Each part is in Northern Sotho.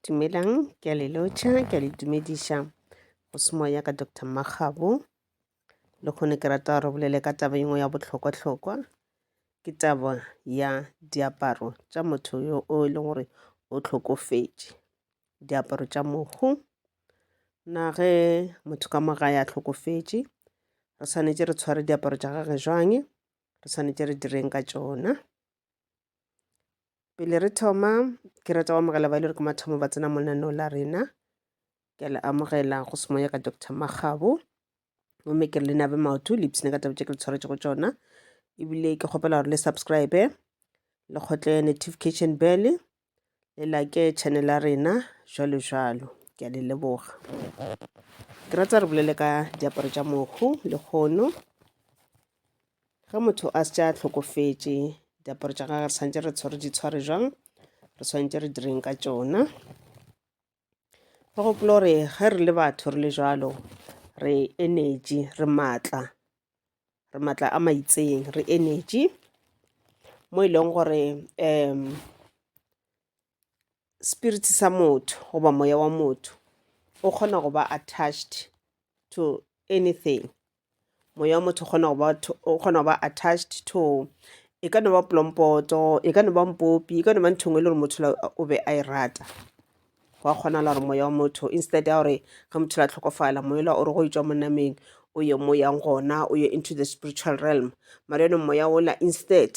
Dumelang, ke a le lotšha, ke a le dumediša go se moya ka Dr. Makgabo. Le kgone ke rata gore bolele ka taba engwe ya bohlokwa-hlokwa, ke taba ya diaparo tša motho yo o e leng gore o hlokofetše. Diaparo tša mohu, na ge motho ka mo gae a hlokofetše, re swanetše re tshware diaparo tša gage jwang? Re swanetše re direng ka tšona? pele re thoma ke rata go amogela ba ile re ke mathomo ba tsena monaneo la rena ke le amogela go semoya ka dr magabo gomme ke re le nabe maoto le ipsene ka taba tše ke le tshwaretse go tsona ebile ke kgopela gore le subscribe le kgotle notification bell le like channel ya rena jalo jalo ke a le leboga ke ratsa re bolele ka diaparo tša mohu le kgono ge motho a se tša tlhokofetše diaparo tša gagwe re santse re tshwere di tshware jang re swanetse re direng ka tšona ba gopola gore ge re le batho re le jalo re energy re maatla re maatla a maitseng re energy mo e leng gore um spirit sa motho goba moya wa motho o kgona go ba attached to anything moya wa motho kgona go ba o kgona go ba attached to e ka no ba polompoto e ka no ba mpopi e ka no ba nthong e le gore motho o be a e rata go a kgonala gore moya wa motho instead ya gore ge motho la tlhokofala moela o re go etswa monameng o ye mo yang gona o ye into the spiritual realm mara yone moya ola instead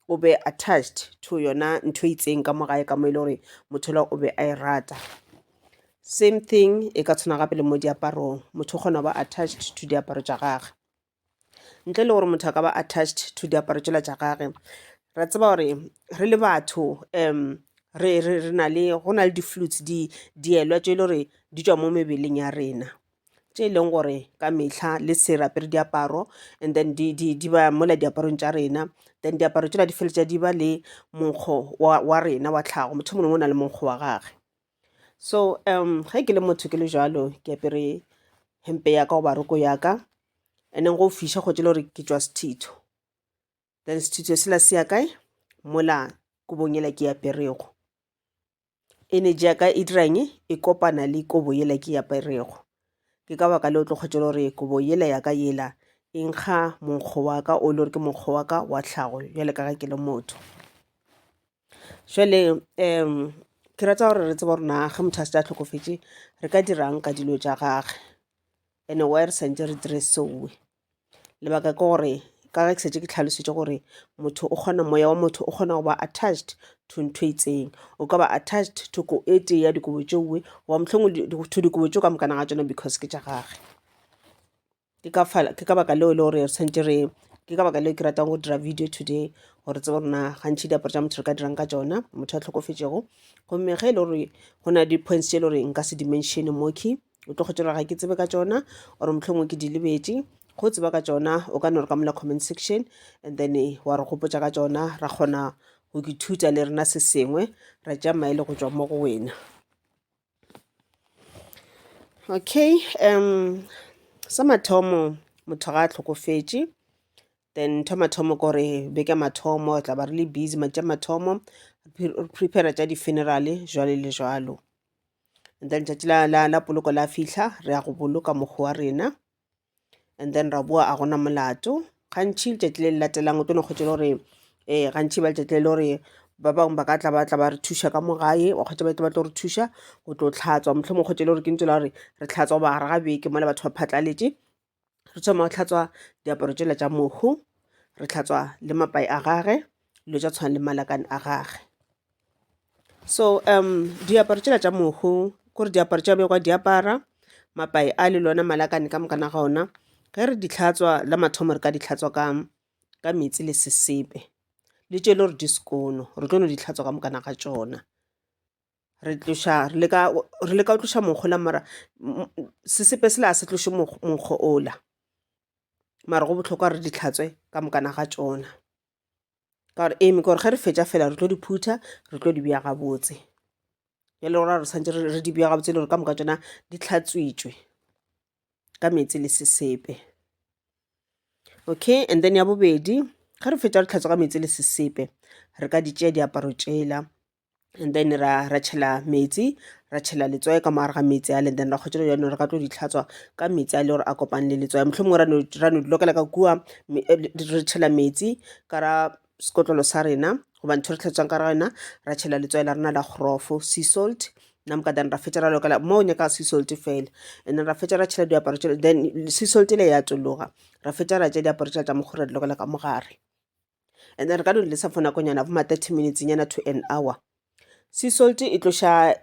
o be attached to yona ntho e itseng ka mo gae ka mo e le gore motho la o be a e rata same thing e ka tshwana gape le mo diaparong motho o kgona go ba attached to diaparo tša gage ntle le gore motho a ka ba attached to diaparo tšela tša gage ra tseba gore re le batho um re na le go na le di-flutes di dielwa tše e le gore di tšwa mo mebeleng ya rena tše e leng gore ka mehla le se re apere diaparo and then di, di, di ba mola diaparong tša rena then diaparo tšela di feletša di ba le monkgo wa, wa rena wa tlhago motho mongwe o na le monkgo wa gage so um ge ke le motho ke le jalo ke apere hempe ya ka goba roko ya ka and then go fiša go tšele gore ke tšwa sethitho then sethitho sela se ya kae mola kubong yela ke aperego Energy ya ka e dira eng? E kopana le kobo yela ke e aperego. Ke ka baka leo o tlo kgwetša le gore kobo yela ya ka yela e nkga monkgo wa ka o e le gore ke monkgo wa ka wa tlhago bjale ka ge ke le motho. Jwale ke rata gore re tsebe gore na ge motho a šetše a hlokofetše re ka dira'ng ka dilo tša gage? And-e why re santše re dire seo? lebaka ke gore ka ge ke setse ke tlhalositše gore motho o kgona moya wa motho o kgona go ba attached to ntho e itseng o ka ba attached to ko e tee ya dikobo tšeoe goba mohlong to dikobo tšeo ka mokana ga tsona because ke tša gage ke ka baka leo e le gore re tshwanetse re ke ka baka leo ke ratang go dira video today gore tsebe gore na gantšhi diaparo tša motho re ka dirang ka tsona motho a tlhokofetšego gomme ge e le gore go na le di-points tse e le gore nka se dimensione moki o tlo kgotšelwa ga ke tsebe ka tšona or mohlomongwe ke di lebetše go tseba ka tšona o ka no re ka mola comment section and then eh, wa re gopotša ka tšona ra kgona go ithuta le rena se sengwe ra tša maele go tšwa mo go wena okay um sa mathomo motho ga a tlhokofetše then ntho mathomo kore beke mathomo tla ba re le busy matša mathomo re prepare tša di-funeral jwale le jwalo and then tšatši la, la, la poloko la fihla re ya go boloka mokgwa wa rena and then ra boa a gona molato gantšhi letšatši le le latelang o tlo no kgwetša le gore um gantšhi ba letšatši le le gore ba bangwe ba ka tla ba tla ba re thuša ka mo gae wa kgwetša ba tle ba tlo re thuša go tlo tlhatswa mohlomong kgwetša le gore ke ntse la gore re tlhatswa goba gare ga beke mola batho ba phatlaletše re thoma go tlhatswa diaparo tšela tša mohu re tlhatswa le mapai a gage dilo tša tshwana le malakane a gage so um diaparo tšela tša mohu kore diaparo tša begwa diapara mapai a le lona malakane ka mokana ga ona ge re di tlhatswa la mathomo re ka di tlhatswa ka ka metsi le sesepe le tšele gore di sekono re tlo no di tlhatswa ka mokana ga tšona re tloša re leka re leka go tloša monkgo la mara m- m- sesepe sela a se tloše mokg- monkgo ola mara go bohlokwa re di tlhatswe ka mokana ga tšona ka gore eme kore ge re fetša fela re tlo di phutha re tlo di bea gabotse e le gora re swantse re re di bea gabotse e le gore ka moka tšona di tlhatswitšwe ka meetse le sesepe okay and then ya bobedi ge re fetša re tlhatswa ka meetse le sesepe re ka di tšea diaparo tšela and then ra ra tšhela metsi ra tšhela letswae ka moare ga metsi ale then ra kgotšela jano re ka tlo ditlhatswa ka metsi a le gore a kopane le letswae motlho mongwe ra no dilokela ka kua eh, re tšhela metsi ka ra sekotlolo sa rena goba ntho re tlhatswang ka ra yona ra tšhela letswae la rena la grofo sea salt namka then ra fetša ra lokela mo o nyaka sea salt fela and then ra fetša ra tšhela diaparo then sea salt le ya tšologa ra fetša ra tša diaparo tša tša mokgore di lokela ka mogare and then re ka no di lesa for nakonyana bo ma 30 minutes nyana to an hour sea salt e tloša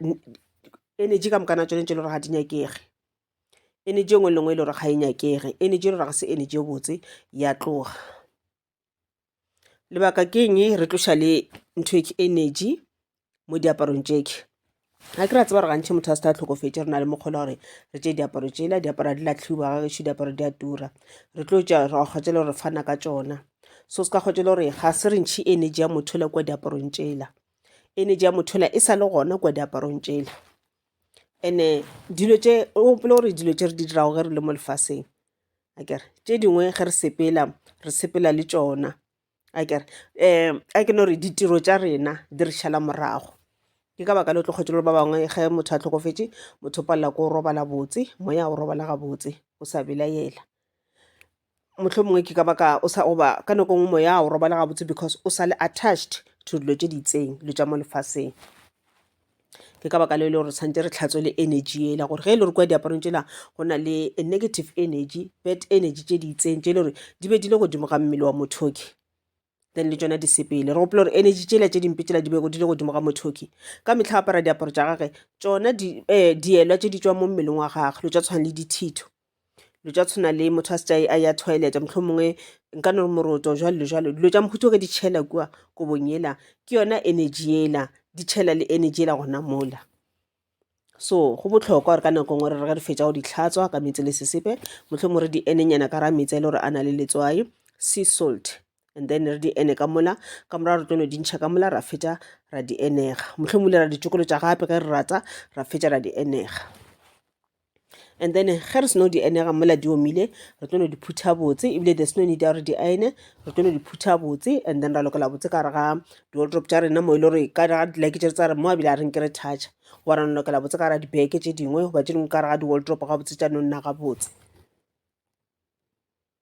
energy ka mokana tsone tse le gore ga di nyakege energy engwe le ngwe e le gore ga e nyakege energy e le gore ga se energy e botse ya tloga lebaka ke eng re tloša le ntho e energy mo diaparong tšeke ga ke ra tseba gore gantšhi motho a se tha tlhokofetse re na le mokgolo gore re tse diaparo tsela diaparo di latlhiwa ga gešo diaparo di a tura re tlo tša ra kgwatsele gore fana ka tsona so se ka kgwatsele gore ga se re ntšhi energy ya motho le kwa diaparong tsela energy ya motho le e sa le gona kwa diaparong tsela ene dilo tše o gopole gore dilo tše re di dirago ge re le mo lefaseng akere tše dingwe ge re sepela re sepela le tšona a kere um a ke no re ditiro tša rena di re šala morago ke ka baka le o tlo kgwetše le ba bangwe ge motho a tlhokofetše motho o palela ko o robala botse moya o robala gabotse o sa belaela motlho mongwe ke ka baka o sa oba ka nako nngwe moya o robala gabotse because o sa le attached to dilo tše di itseng dilo tša mo lefaseng ke ka baka leo e le gore tshwanetse re tlhatswe le energy yela gore ge e le gore kwa diaparong tšela go na le negative energy bad energy tše di itseng tše e le gore di be di le godimo ga mmele wa mothoki then le tšona di sepele re gopola gore energy tšela tše dimpe tšela di bego di le godimo ga mothoki ka mehla apara diaparo tša gage tšona um dielwa tše di tšwa mo mmeleng wa gage lo tša tshwana le dithitho dilo tša tshwana le motho a se tša a ya toilet mohlomongwe nka no re moroto jwalo jwalo dilo tša mohuta ge di tšhela kua kobong yela ke yona energy yela di tšhela le energy yela gona mola so go bohlokwa gore ka nako ngwe re re re fetsa go di tlhatswa ka metsi le sesepe mohlomongwe re di enenyana ka ra metsi a e le gore a na le letswai sea salt and then re di ene ka mola ka morago re tlo no di ntšha ka mola ra fetsa ra di enega mohlomongwe le ra ditšokolo tša gape ge re rata ra fetsa ra di enega and then ge re seno di enega mola di omile re tlo no di phutha botse ebile there's no need ya gore di ene re tlo no di phutha botse and then ra lokela botse ka re ga di-wardrop tša rena mo e le gore ka ga dileke tše tsa re mo a bile a reng ke re thatša wa ra lokela botse ka ra dibeke tše dingwe goba tše dingwe ka re ga di-wardrop ga botse tša no nna ga botse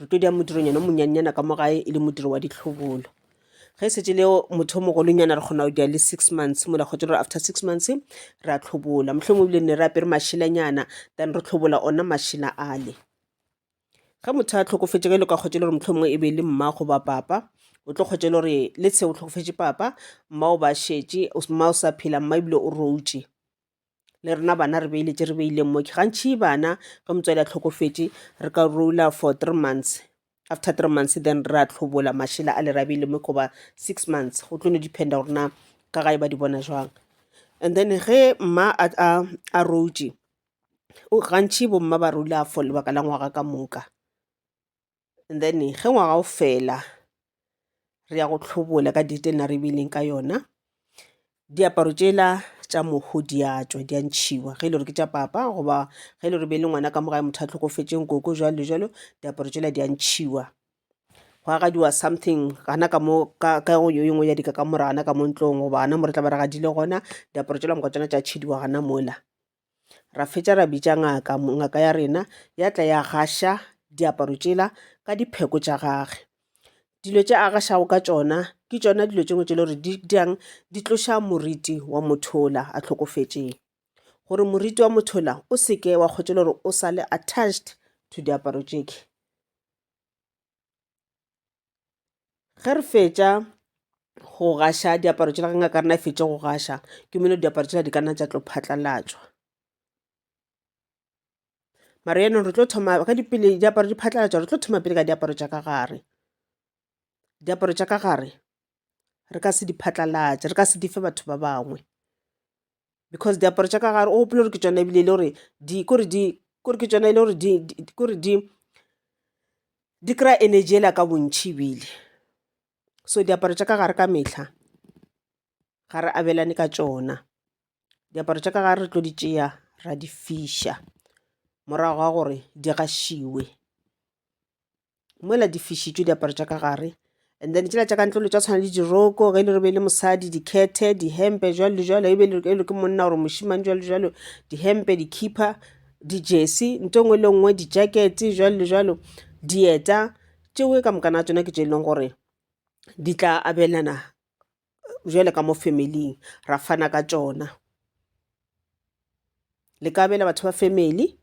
re tlo dia modironyana o monyannyana ka mo gae e le modiro wa ditlhobolo ge e setse le motho o mogolonyana re kgona go dia le six months mola kgotse gore after six months re a tlhobola motlho mo ebile ne re apere mašelanyana then re tlhobola ona mašela ale ge motho a tlhokofetse ge le ka kgotse le gore motlho mongwe e be le mma goba papa o tlo kgotse le gore le se o tlhokofetse papa mma o ba šetše mma o sa phela mma ebile o routše le rena bana re beile tše re beileng mo gantšhi bana ge motswadi a tlhokofetše re ka rola for three months after three months then re a tlhobola mašela a le ra beile mo goba six months go tlo no dependa gore na ka gae ba di bona jwang and then ge mma a routše gantšhi bomma ba rola for lebaka la ngwaga ka moka and then ge ngwaga o fela re ya go tlhobola ka date e na re beileng ka yona diaparo tšela tša moho di a tšwa di a ntšhiwa ge e le gore ke tša papa goba ge e le gore be e le ngwana ka mogae motho a tlhokofetseng koko jalo le jalo diaparo tšela di a ntšhiwa go agadiwa something gana ka mo ka ka go yo yengwe ya dika ka morana ka mo ntlong goba gana mo re tla ba re gadile gona diaparo tšela moka tsona tša tšhidiwa gana mola Ra fetša ra bitša ngaka, ngaka ya rena ya tla ya gaša diaparo tšela ka dipheko tša gage. Dilo tše a gašago ka tšona ke tšona dilo tše dingwe tše e le gore di dirang di tloša moriti wa motho wola a hlokofetšego, gore moriti wa motho wola o se ke wa kgotša e le gore o sa le attached to diaparo tše. ge re fetša go gaša diaparo tšela ge ngaka rena e fetše go gaša ke meno diaparo tšela di ka nna tša tlo phatlalatšwa mara yaanong re tlo thoma ka dipele diaparo di phatlalatšwa re tlo thoma pele ka diaparo tša ka gare diaparo tša ka gare re ka se di phatlalatše re ka se di fe batho ba bangwe because diaparo tša ka gare o gopole gore ke tsona ebile e le gore di kore di kore ke tsona e le gore di kore di di kry-a energy ela ka bontšhi ebile so diaparo tša ka gare ka metlha ga re abelane ka tsona diaparo tša ka gare re tlo di tšea ra di fiša morago ga gore di gašiwe mola di fišitšwe diaparo tša ka gare and then tšela tša ka ntlolo tša tshwana le diroko ge e le re be e le mosadi dikhethe dihempe jalo le jalo e be e le ke monna gore mošimane jalo le jalo dihempe dikhipa dijesi nto ngwe le nngwe dijakete jalo le jalo dieta tšeo ka mokana tsona ke tše e leng gore di tla abelana bjale ka mo family-ing ra fana ka tšona. Le ka abela batho ba family,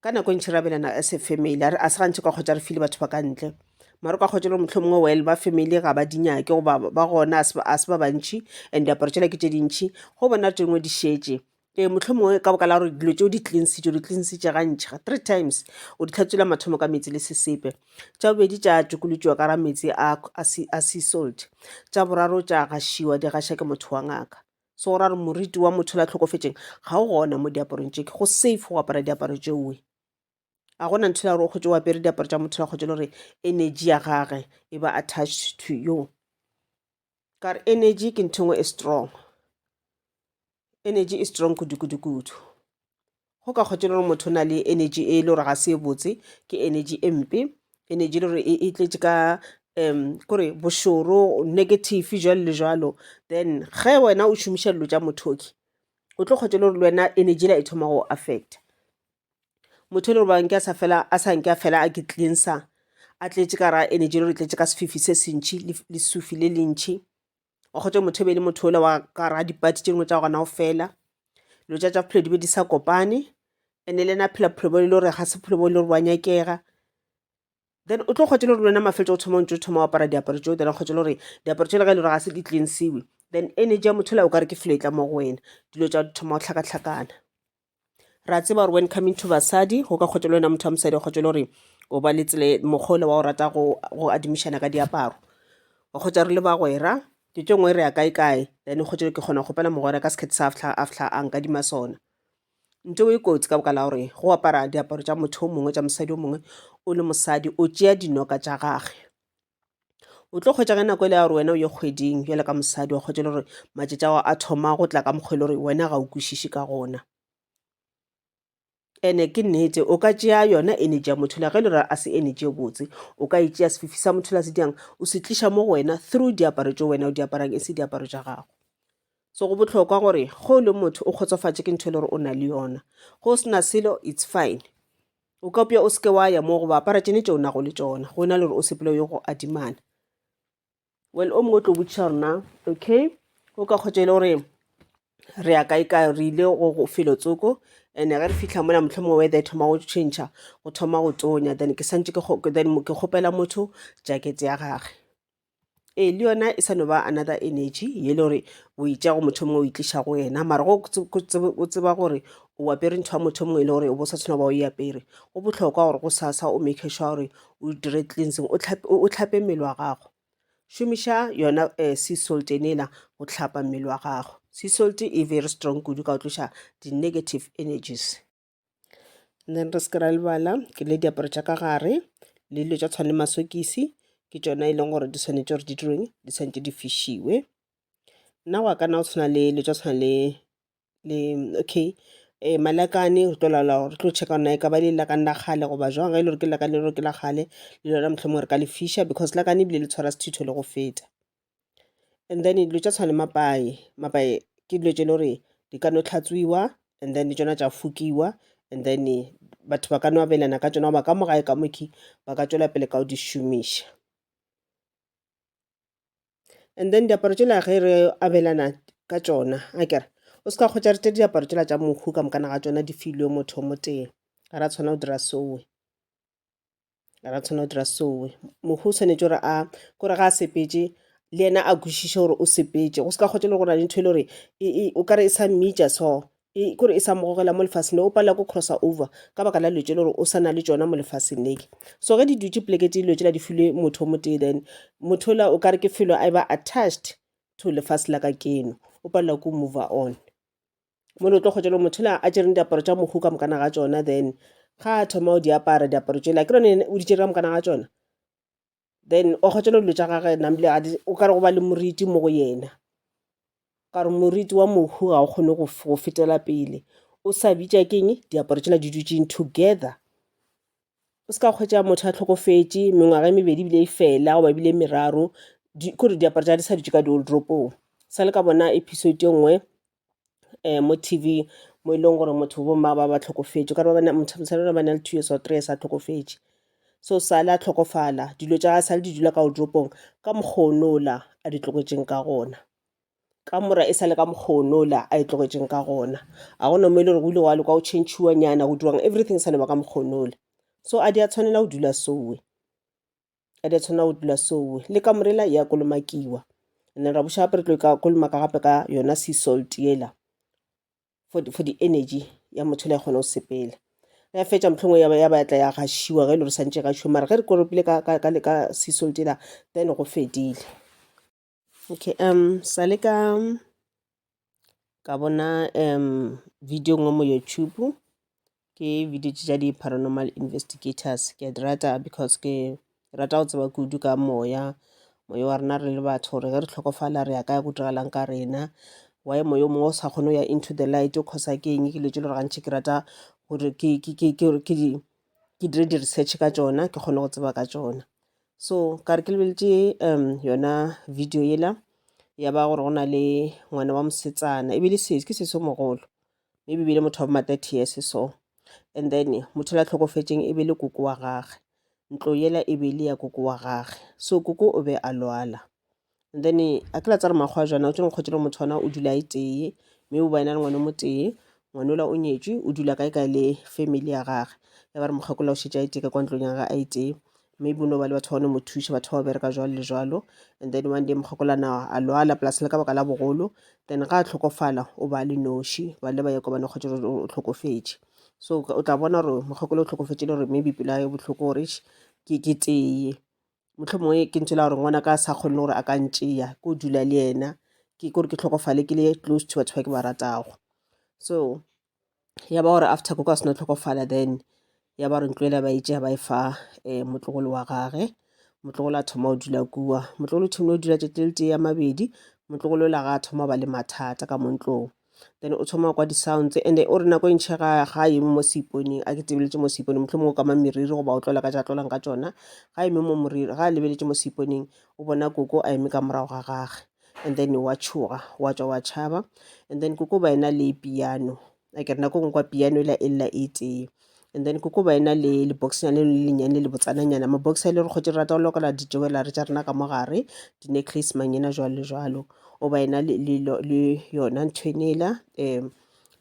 ka nako e ntši re abelana as a family, a ga se gantši o ka hwetša re file batho ba ka ntle mara o ka hwetša e le gore mohlomongwe well ba family ga ba di nyake goba ba gona ga se ba bantši and diaparo tšela ke tše dintši, go bona tše dingwe di šetše ee mohlomongwe ka boka la gore dilo tšeo di tlinsitše di tlinsitše gantšha three times o di tlhatswela mathomo ka metsi le sesepe tša bobedi tša tšokolotšiwa ka ra metsi a sea salt tša boraro tša gašiwa di gaša ke motho wa ngaka so go ra gore moriti wa motho la tlhokofetseng ga o gona mo diaparong tše ke go safe go apara diaparo tšeoe a gona ntho la gore o kgotse o apere diaparo tša motho la kgotse le gore energy ya gage e ba attached to you ka re energy ke ntho e strong energy e strong kudu-kudu-kudu go ka kgotse gore motho o na le energy e le gore ga se e botse ke energy e mpe energy e le gore e, e tletše ka um kore bošoro negative jalo le jalo then ge wena o šomiša dilo tša mothoki o tlo kgotse le gore le wena energy la e thoma go affecta motho e le gore nke a sa fela a sa nke a fela a ke cleanser a tletše ka ra energy le gore tletše ka sefifi se se ntšhi le sufi le le ntšhi wa kgotsa motho e be le motho ola wa ka ra dipati tše dingwe tša gona o fela dilo tša tša bophelo di be di sa kopane ene le ena phela bophelo bo e le gore ga se bophelo bo e le gore bo a nyakega then o tlo kgotse le gore lwena mafeletso go thoma o ntse o thoma o apara diaparo tseo then kgotse le gore diaparo tse le ga e le gore ga se di cleansiwe then energy ya motho la o ka re ke felo e tla mo go wena dilo tša thoma go tlhakatlhakana ra tseba gore when coming to basadi go ka kgotša le wena motho wa mosadi kgotša le gore o ba le tsele mokgwa ole wa o rata go adimišana ka diaparo wa kgotša re le bagwera ke tše ngwe re ya kae kae then kgotša ke kgona go gopela mogwera ka sekgethe sa a fihla a fihla a nkadima sona nte o e kotsi ka boka la gore go apara diaparo tša motho o mongwe tša mosadi o mongwe o le mosadi o tšea dinoka tša gage o tlo kgwetša ge nako e le ya gore wena o ye kgweding bjale ka mosadi wa kgwetša le gore matšatši ao a thoma go tla ka mokgwa e le gore wena ga o kwešiše ka gona ene ke nnete o ka tšea yona energy ya motho la ge e le gore a se energy e botse o ka e tšea sefifi sa motho la se diang o se tliša mo go wena through diaparo tse wena o di aparang e se diaparo tša gago so go bohlokwa gore ge o le motho o kgotsofatše ke ntho e le gore o na le yona go sena selo it's fine O ka upša o se ke wa ya moo goba apara tšene tšeo nago le tšona go na le gore o sepele yo go adimana. Well, o mongwe o tlo botšiša gore na okay o ka kgotša e le gore re ya kae kae re ile go go felo tsoko and ge re fitlha mola motlho mongwe weather e thoma go change go thoma go tonya then ke santse ke then ke kgopela motho jacket ya gage ee le yona e sa no ba another energy ye le gore o itša go motho mongwe o itliša go yena mara go o tseba gore o apere ntho ya motho mongwe e le gore o bo sa tshwana ba o e apere go bohlokwa gore go sasa o make sure gore o dire cleansing o tlhape mmele wa gago šomiša yona um sea salt enela go tlhapa mmele wa gago sea salt e very strong kudu ka go tloša di-negative energies then re se ke ra lebala ke le diaparo tša ka gare le dilo tša tshwane masokisi ke tšona e leng gore di tshwanetse gore di direng di tshwanetse di fišiwe nna go ka nna go tshwana le dilo tša tshwana le le okay um malakane re tlo laola gore re tlo checka gore na e ka ba le lakane la kgale goba jwang ge e le gore ke lakane le gore ke la kgale le lona mohlomongwe re ka le fisha because lakane ebile le tshwara sethitho le go feta. and then dilo tša tshwana le mapaye, mapaye ke dilo tše e le gore di ka no hlatswiwa and then tšona tša fukiwa and then batho ba ka no abelana ka tšona goba ka mo gae ka mokhwi ba ka tšwela pele ka go di šomiša. And then diaparo tšela ge re abelana ka tšona akere o se ka kgotša re tše diaparo tšela tša mohu ka moka na ga tšona di filwe motho o motee, ga ra tshwanela go dira seo. ra tshwana o dira sowe mohu o tshwanetse gore a kore ga a sepetse le ena a kwešiše gore o sepetse go se ka kgotse le go na le ntho e le gore o kare e sa mmeja so e, kore e sa mogogela mo lefaseng le o palela ko crossa over ka baka la lwetse le gore o sa na le tsona mo lefaseng leke so ge di dutse poleke tse lwetse la di filwe motho o motee then motho la o kare ke felo a e ba attached to lefase la ka keno o palela ko mover on mo le tlo kgwetša le motho la a tšereng diaparo tša mohu ka mokana ga tšona then ga a thoma o di apara diaparo tšela ke rone o di tšere ka mokana ga tšona then o kgwetša le dilo tša gage namle o ka re go ba le moriti mo go yena ka gore moriti wa mohu ga o kgone go f- go fetela pele o sa bitša keng diaparo tšela di dutšeng together o se ka kgwetša motho a tlhokofetše mengwaga e mebedi ebile e fela goba ebile e meraro di- kore diaparo tša di sa dutše ka dioldropong sa le ka bona episode e nngwe um mo t v mo e leng gore motho bo mma ba ba tlhokofetše ka ba motho ba ba na le two years or three years a tlhokofetše so sale a tlhokofala dilo tša ga sale di dula ka odropong ka mokgonola a di tloketseng ka gona ka mora e sale ka mokgonola a e tloketseng ka gona a gona mo e le gore go ile gwa loka go changiwa nyana go dirwang everything sa leba ka mokgonola so a di a tshwanela go dula sowe a di a tshwanela go dula sowe le ka morela ya kolomakiwa and then ra buša gape re tlo ka kolomaka gape ka yona sea salt yela for di, for di energy ya motho le ya kgona go sepela ya fetša mohlongwe ya ba ya ba ya tla ya gašiwa ge e le gore santše e gašiwa mara ge re koropile ka, ka, ka, le ka sea salt yela then go fedile Okay um sa le ka ka bona um video ngwe mo YouTube ke video tša di paranormal investigators ke a di rata because ke rata go tseba kudu ka moya moya wa rena re le batho gore ge re tlhokofala re ya kaya go diragalang ka rena why moya o mongwe o sa kgone go ya into the light o kgosa ke eng ke dilo tse le gore gantšhi ke rata gore ke ke ke ke ke di ke dire di-research ka tšona ke kgone go tseba ka tšona so ka re ke lebeletše um yona video yela ya ba gore go na le ngwana wa mosetsana e bile sese ke sese mogolo e bile motho wa boma 30 years so and then motho la tlhokofetseng e be le koko wa gage ntlo yela e be le ya koko wa gage so koko o be a lwala and then a ke la tsare makgwa jana o tsene kgotse le motho ona o dula e tee mme o ba ena le ngwana mo tee ngwana ola o nyetswe o dula kae kae le family ya gage ya ba re mokgakolola o šetse a iteke kwa ntlong ya gage a itee maybe o no ba le batho ba ne mo thuša batho ba ba bereka jwalo le jwalo and then one day mokgakolana a lwala plus le ka baka la bogolo then ga a tlhokofala o ba le noši ba le ba ya kobane kgotse o tlhokofetše so o tla bona gore mokgakolo o tlhokofetše le gore maybe pelo ya botlhoko gore ke tee mohlomongwe ke ntho e la gore ngwana ka sa kgonne gore a ka ntšeya ko dula le yena ke kore ke tlhokofale ke le close to batho ba ke ba ratago so ya ba gore after ko ka sena tlhokofala then ya ba re ntlo ela ba itšea ba e fa um motlogolo wa gage motlogolo a thoma o dula kua motlogolo o thomile o dula tšatši le tee ya mabedi motlogolo o la ga a thoma ba le mathata ka mo ntlong then o thoma kwa di-sounds and o re nako e ntšhe ga ga eme mo seiponeng a ke tebeletse mo seiponeng motlho mongwe o kama meriri goba o tlola ka ja tlolang ka tsona ga eme mo moriri ga a lebeletse mo seiponeng o bona koko a eme ka morago ga gage and then wa tšhoga wa tswa wa tšhaba and then koko ba ena le piano a ke re nako ngwe kwa piano e la e lela e tee and then koko ba ena le leboxnyane le lenyane le botsananyana mabox a e le re kgotse re rata go lokela di-jewellery tša rena ka mo gare di-necklace mangena jwalo le jwalo o ba ena le, le, lo- le yona ntho e nela um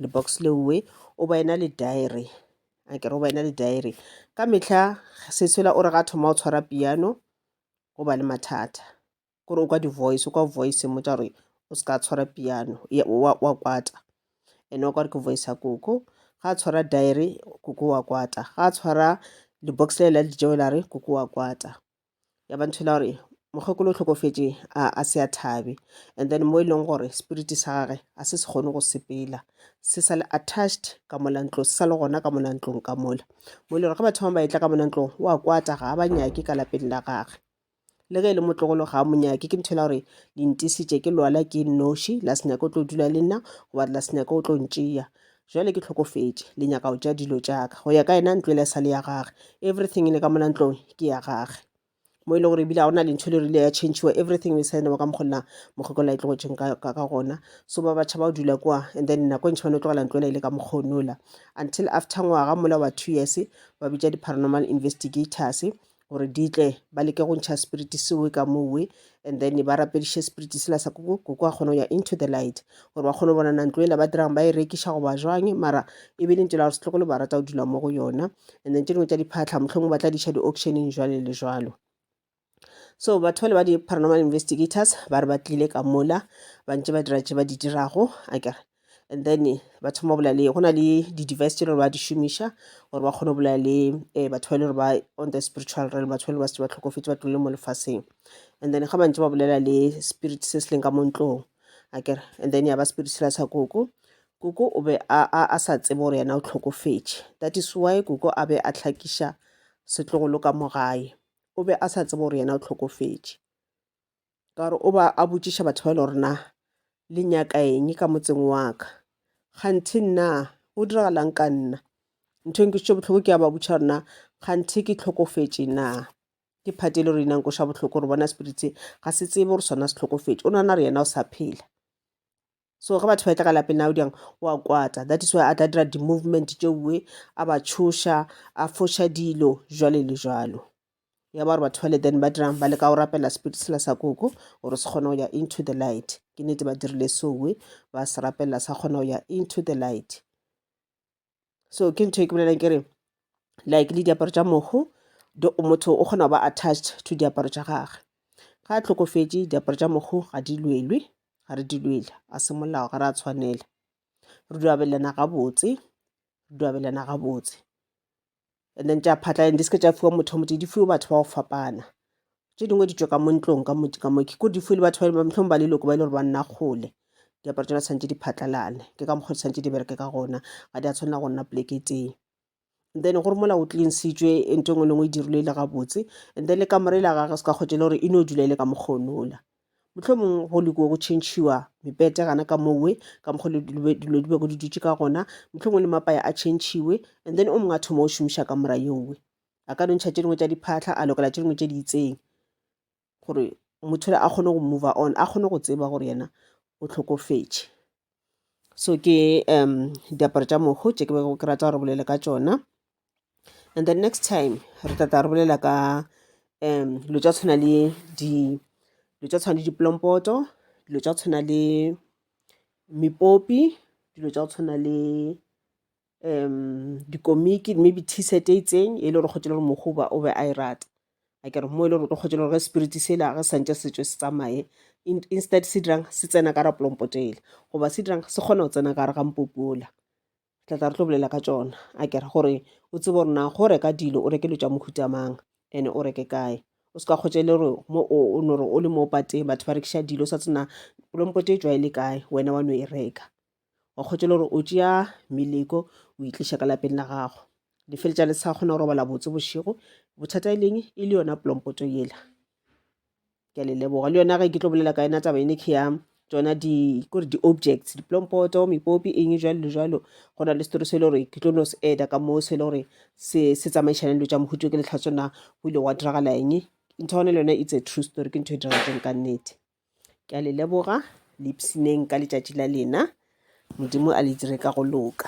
lebox leowe o ba ena le diary a kere o ba ena le diary ka mehla seswela o re ga thoma o tshwara piano go ba le mathata gore o kwa di-voice o kwa voice e mmotša gore o se ka tshwara piano wa kwata ene wa kware ke voice ya koko ga a tshwara diary koko wa kwata ga a tshwara di-box le la dijeo la re koko wa kwata ya ba ntho e la gore mokgekolo o tlhokofetše a se a thabe and then mo e leng gore spirit sa gage a se se kgone go sepela se sa le attached ka mola ntlo se sa le gona ka mola ntlong ka mola mo e le gore ge batho ba ba etla ka mola ntlong wa kwata ga ba nyake ka lapeng la gage le ge e le motlogolo ga a mo nyake ke nthela gore le ntisitše ke lwala ke nnoši la se nyake o tlo dula le nna goba la se nyake o tlo ntšea jale ke tlhokofetše le nyaka go tša dilo tšaka go ya ka yena ntlo e le sa le ya gage everything e le ka mona ntlong ke ya gage mo e le gore ebile ga gona lentho le rile ya changiwa everything e sa enewa ka mokgolela mokgokolo e tlogetseng ka gona so ba batšha ba o dula kwa and then nako e ntšha bane o tlogela ntlo ela e le ka mokgonola until after ngwaga mola wa two years ba bitša di-paranormal investigators gore di tle ba leke go ntšha spirit sewe ka mowe and then ba rapediše spirit sela sa koko koko a kgone go ya into the light gore ba kgone go bona nantlo ela ba dirang ba e rekiša goba jwang mara e be e le ntela gore setlogolo ba rata go dula mo go yona and then tše dingwe tša diphatlha mohlomong ba tla diša di-auctioneng jwale le jwalo so batho bale ba di-paranormal investigators ba re ba tlile ka mola ba ntse ba dira tše ba di dirago a kere and then ba thoma go bolela le go na le di-device tse le gore ba di šomiša gore ba kgone go bolela le um batho ba e le gore ba on the spiritual realm batho ba e le ba setse ba tlhokofetse ba tlole mo lefaseng and then ga bantse ba bolela le spirit se se leng ka mo ntlong a kere and then ya ba spirit sela sa koko koko o be a, a, a sa tsebe gore yena o tlhokofetše that is why koko a be a tlhakiša setlogolo ka mo gae o be a sa tsebe gore yena o tlhokofetše ka gore o ba a botšiša batho ba e le gore na le nyaka eng ka motseng wa ka kganthe nna go diragalang ka nna ntho e nkošitše bohloko ke ya ba botšiša gore na kganthe ke tlhokofetše na ke phate e le gore ina nkoša bohloko gore bona spirit se ga se tsebe gore sona se tlhokofetše o nana re yena o sa phela so ge batho ba etla ka lapeng nao diyang wa kwata that is why a tla dira di-movement tšeue a ba tšhoša a foša dilo jwale le jwalo ya ba gore batho bale then ba dirang ba leka go rapela spirit sela sa koko gore se kgone go ya into the light ke nete ba dirile soe ba se rapelela sa kgona go ya into the light so ke ntho e ke bolelang ke re like le diaparo tša mohu motho o kgona go ba attached to diaparo tša gage ga a tlhokofetše diaparo tša mohu ga di lwelwe ga re di lwele a se molao ga re a tshwanela re duabelana gabotse re duabelana gabotse and then tša phatla and di seke tša fiwa motho motse di fiwe batho ba go fapana tše dingwe ditšo ka mo ntlong ka motse ka mo ke ko di fiwe le batho ba mohlong ba leloko ba e le gore ba nna kgole diaparo tsona tshwanetse di phatlalane ke ka mokgwa di tshwanetse di bereke ka gona ga di a tshwanela go nna poleke teng and then gore mola o tlinsitswe e nto e nngwe le nngwe e dirilwe e le gabotse and then le kamore la gage se ka kgotse le gore e no dula e le ka mokgonola mohlomong go leko go tšhentšhiwa mepete gana ka mowe ka mokgwa le dilo di bego di dutše ka gona mohlomong le mapaya a tšhentšhiwe and then o mongwe a thoma o šomiša ka mora yowe a ka nontšha tše dingwe tša diphatlha a lokela tše dingwe tše di itseng gore motho le a kgone go move on a kgone go tseba gore yena o tlhokofetše so ke um diaparo tša mohu tše ke bego ke rata gore bolele ka tšona and then next time re tata re bolela ka um dilo tša tshwana le di dilo tša tshwana le diplompoto dilo tša tshwana le mepopi dilo tša go tshwana le um dikomiki maybe t-shirt e itseng e le gore kgotse le gore mogoba o be a e rata a kere mo e le gore o kgotse le gore ge spirit se la ge santse se tswe se tsamaye In- instead se dirang se tsena ka rapolompotele goba se dirang se kgona go tsena ka re ga mpopola tla tla re tlo bolela ka tsona a kere gore o tsebe gore na go reka dilo o reke dilo tša mohuta mang ene o reke kae o se ka kgotse le gore mo o o no re o le mo pateng batho ba rekiša dilo o sa tsena polompote e tswa e le kae wena wa no e reka wa kgotse le gore o tšea meleko o itliša ka lapeng la gago le feletša le sa kgona go robala botse bošego bothata e leng e le yona plompoto yela ke a le leboga le yona ge ke tlo bolela ka yona taba ene ke ya tsona di kore di-objects diplompoto mepopi eng jalo le jalo go na le setori se e le gore ke tlo no se eda ka moo se e le gore se se tsamaišane dilo tša mohuto ke letlhatsona go ile gwa diragala eng ntho gone le yone it's a true story ke ntho e diragetseng ka nnete ke a le leboga le ipshineng ka letšatši la lena modimo a le dire ka go loka